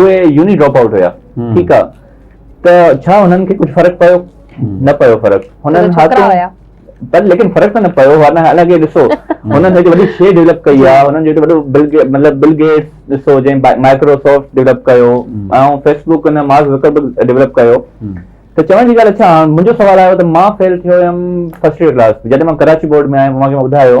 اهي uni drop out هيا ٺيڪ آ ته ڇا هنن کي ڪجهه فرق پيو نه پيو فرق هنن ڇوڪرا هيا پر ليڪن فرق ته نه پيو هو نه الڳي ڏسو هنن هڪ وڏي شي ڊيولپ ڪئي آ هنن جو وڏو بل مطلب بل گيٽس ڏسو جنهن مائڪروسافٽ ڊيولپ ڪيو ۽ فيسبوڪ ان مارڪ زڪربرگ ڊيولپ ڪيو ته چوڻ جي ڳالهه اچا منهنجو سوال آيو ته مان فيل ٿيو هيم فرسٽ ڪلاس جڏهن مان ڪراچي بورڊ ۾ آيم اوهان کي مان ٻڌايو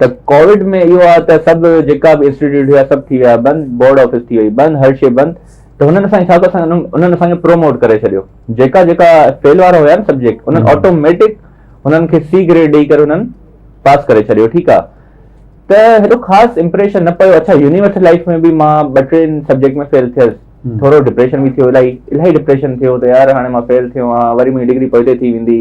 ته ڪووڊ ۾ اهو آهي ته سڀ جيڪا به انسٽيٽيوٽ هيا سڀ ٿي ويا بند بورڊ آفيس ٿي وئي بند هر شي بند ته هنن اسان حساب اسان انهن اسان کي پروموٽ ڪري ڇڏيو جيڪا جيڪا فيل وارا هيا نه سبجيڪٽ انهن آٽوميٽڪ انهن کي سي گريڊ ڏيئي ڪري انهن پاس ڪري ڇڏيو ٺيڪ آ ته هيڏو خاص امپريشن نه پيو اڇا يونيورسٽي لائيف ۾ به مان ٻه ٽي سبجيڪٽ ۾ فيل ٿيس ٿورو ڊپريشن به ٿيو الائي الائي ڊپريشن ٿيو ته يار هاڻي مان فيل ٿيو آهيان وري منهنجي ڊگري پوئتي ٿي ويندي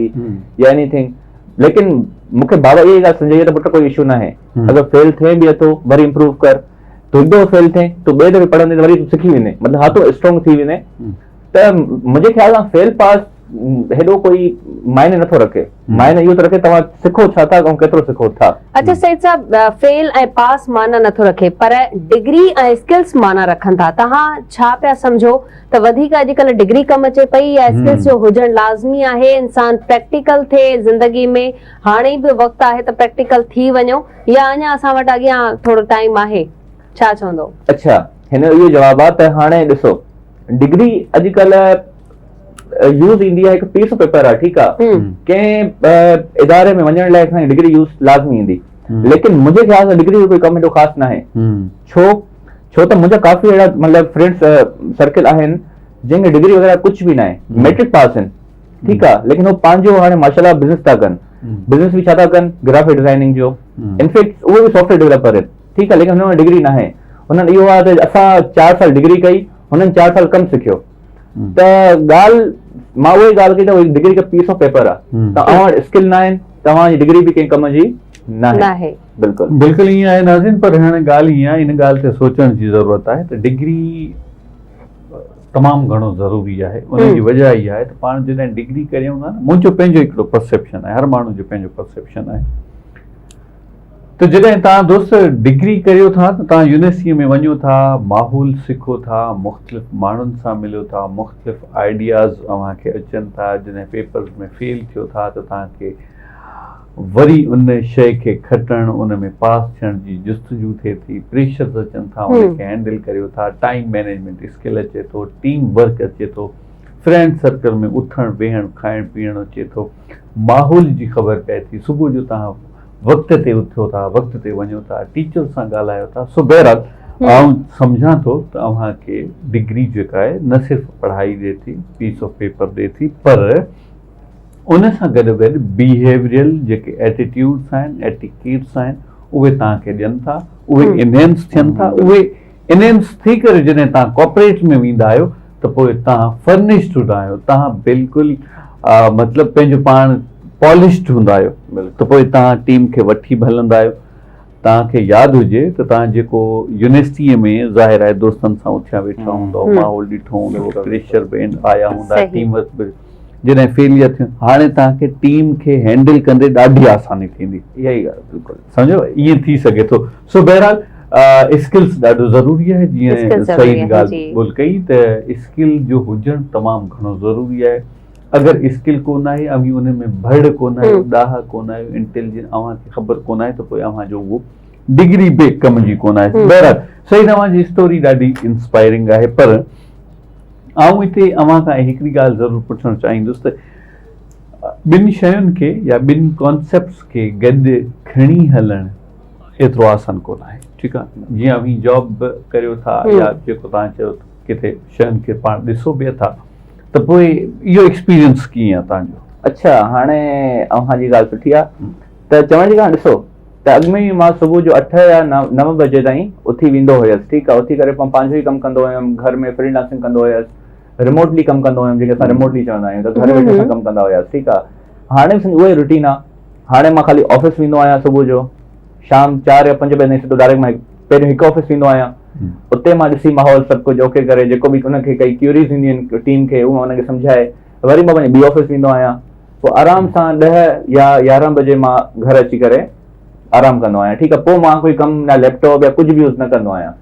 يا اني ٿنگ ليڪن مون کي بابا اها ڳالهه سمجهائي ته پٽ ڪو اشو ناهي اگر فيل ٿئي به اٿو وري امپروو ڪر تو هڪ دفعو فيل ٿئي تو ٻئي دفعي پڙهندي ته وري سکي ويندي مطلب هاٿو اسٽرانگ ٿي ويندي ته منهنجي خيال سان فيل پاس هيڏو ڪوئي معنيٰ نٿو رکي معنيٰ اهو ٿو رکي توهان سکو ڇا ٿا ۽ ڪيترو سکو ٿا. اچا سيد صاحب فيل ۽ پاس معنيٰ نٿو رکي پر ڊگري ۽ اسڪلس معنيٰ رکن ٿا توهان ڇا پيا سمجهو ته وڌيڪ اڄڪلهه ڊگري ڪم اچي پئي يا اسڪلس جو هجڻ لازمي آهي انسان پريڪٽيڪل ٿئي زندگي ۾ هاڻي به وقت آهي ته پريڪٽيڪل ٿي وڃو يا اڃان اسان وٽ اڳيان ٿورو ٽائيم آهي ڇا چوندو. اچا هن جو اهو جواب آهي ته هاڻي ڏسو ڊگري اڄڪلهه. يوز ايندي آهي هڪ پيس آف پيپر آهي ٺيڪ آهي ڪنهن اداري ۾ وڃڻ لاء اسان ڊگري يوز لازمي ايندي ليڪن منهنجي خيال سان ڊگري جو ڪوئي ڪم ايڏو خاص ناهي ڇو ڇو ته منهنجا ڪافي اهڙا مطلب فرينڊس سرڪل آهن جن کي ڊگري وغيره ڪجهه به ناهي ميٽرڪ پاس آهن ٺيڪ آهي ليڪن هو پنهنجو هاڻي ماشاء الله بزنس ٿا ڪن بزنس به ڇا ٿا ڪن گرافڪ ڊزائننگ جو انفيڪٽ اهو به سافٽويئر ڊيولپر آهن ٺيڪ آهي ليڪن هن وٽ ڊگري ناهي هنن اهو آهي ته اسان چار سال ڊگري ڪئي هنن چار سال ڪم سکيو ته ڳالهه مان اهي ڳالهه ڪئي ته هي ڊگري هڪ پيس آف پيپر آهي ته اوهان وٽ اسڪل نه آهن توهان جي ڊگري به ڪنهن ڪم جي نه آهي بلڪل بلڪل ائين آهي ناظرين پر هاڻي ڳالهه ائين آهي ان ڳالهه تي سوچڻ جي ضرورت آهي ته ڊگري تمام گهڻو ضروري آهي ان جي وجه اها آهي ته پاڻ جڏهن ڊگري ڪريون ٿا نه منهنجو پنهنجو هڪڙو پرسيپشن آهي هر ماڻهو جو پنهنجو پرسيپشن آهي ته جڏهن توهان دوست ڊگري ڪريو ٿا ته توهان يونيورسٽيء ۾ وڃو ٿا، ماحول سکو ٿا، مختلف ماڻهن سان مليو ٿا، مختلف آئيڊياز اوهان کي اچن ٿا، جڏهن پيپرز ۾ فيل ٿيو ٿا ته توهان کي وري ان شيء کي کٽڻ، ان ۾ پاس ٿيڻ جي جستجو ٿئي ٿي، پريشرز اچن ٿا، ان کي هينڊل ڪريو ٿا، ٽائيم مينيجمينٽ اسڪل اچي ٿو، ٽيم ورڪ اچي ٿو، فرينڊ سرڪل ۾ اٿڻ ويهڻ، کائڻ پيئڻ اچي ٿو، ماحول جي خبر پئي ٿي، صبح جو توهان وقت تي اٿو ٿا وقت تي وڃو ٿا ٽيچر سان ڳالهايو ٿا سو بهرحال آئون سمجهان ٿو ته اوهان کي ڊگري جيڪا آهي نه صرف پڙهائي ڏي ٿي پيس آف پيپر ڏي ٿي پر ان سان گڏ گڏ بيهيوريل جيڪي ايٽيٽيوڊس آهن ايٽيڪيٽس آهن اهي توهان کي ڏين ٿا اهي انهينس ٿين ٿا اهي انهن ٿي ڪري جڏهن توهان ڪارپوريٽ ۾ ويندا آهيو ته پوء توهان فرنشڊ هوندا آهيو توهان بلڪل مطلب پنهنجو پاڻ پالشڊ هوندا آهيو ته پوء توهان ٽيم کي وٺي به هلندا آهيو توهان کي ياد هجي ته توهان جيڪو يونيورسٽي ۾ ظاهر آهي دوستن سان اٿيا ويٺا هوندا ماحول ڏٺو هوندو پريشر به آيا هوندا ٽيم ورڪ به جڏهن فيليئر ٿيو هاڻي توهان کي ٽيم کي هينڊل ڪندي ڏاڍي آساني ٿيندي اها ئي ڳالهه بلڪل سمجهيو ائين ٿي سگهي ٿو سو بهرحال اسڪلس ڏاڍو ضروري آهي جيئن سعيد ڳالهه ٻول ڪئي ته اسڪل جو هجڻ تمام گهڻو ضروري آهي اگر اسڪل ڪون آهي اوهين ان ۾ ڀڙ ڪون آهيو ڏاها ڪون آهيو انٽيليجنس اوهان کي خبر ڪون آهي ته پوء اوهان جو اهو ڊگري به ڪم جي ڪون آهي بهرحال سعيد اوهان جي اسٽوري ڏاڍي انسپائرنگ آهي پر آئون هتي اوهان کان هڪڙي ڳالهه ضرور پڇڻ چاهيندس ته ٻن شين کي يا ٻن ڪانسيپٽس کي گڏ کڻي هلڻ ايترو آسان ڪونه آهي ٺيڪ آ جيئن اوهين جاب به ڪريو ٿا يا جيڪو توهان چيو ڪٿي شين کي پاڻ ڏسو به اٿا ته پوء اهو ايڪسپيرينس ڪيئن آ توهان جو. اڇا هاڻي اوهان جي ڳالهه سٺي آ ته چوڻ جي ڳالهه ڏسو ته اڳ ۾ مان صبح جو اٺ يا نو بجي تائين اٿي ويندو هيس ٺيڪ آ اٿي ڪري پنهنجو ئي ڪم ڪندو هيم گهر ۾ فري لانسنگ ڪندو هيس ريموٽلي ڪم ڪندو هيم جنهن کي اسان ريموٽلي چوندا آهيون ته گهر ويٺي اسان ڪم ڪندا هياسين ٺيڪ آهي هاڻي به سمجهه اهو ئي روٽين آهي هاڻي مان خالي آفيس ويندو آهيان صبح جو شام چار يا پنج بجي تائين سڌو ڊائريڪٽ مان پهريون هڪ آفيس ويندو آهيان اتي مان ڏسي ماحول سڀ ڪجهه اوڪي ڪري جيڪو به ان کي ڪئي ڪيوريز هونديون آهن ٽيم کي اهو ان کي سمجهائي وري مان پنهنجي ٻي آفيس ويندو آهيان پوء آرام سان ڏهه يا يارهن بجي مان گهر اچي ڪري آرام ڪندو آهيان ٺيڪ آهي پوء مان ڪوئي ڪم نه ليپٽاپ يا ڪجهه به يوز نه ڪندو آهيان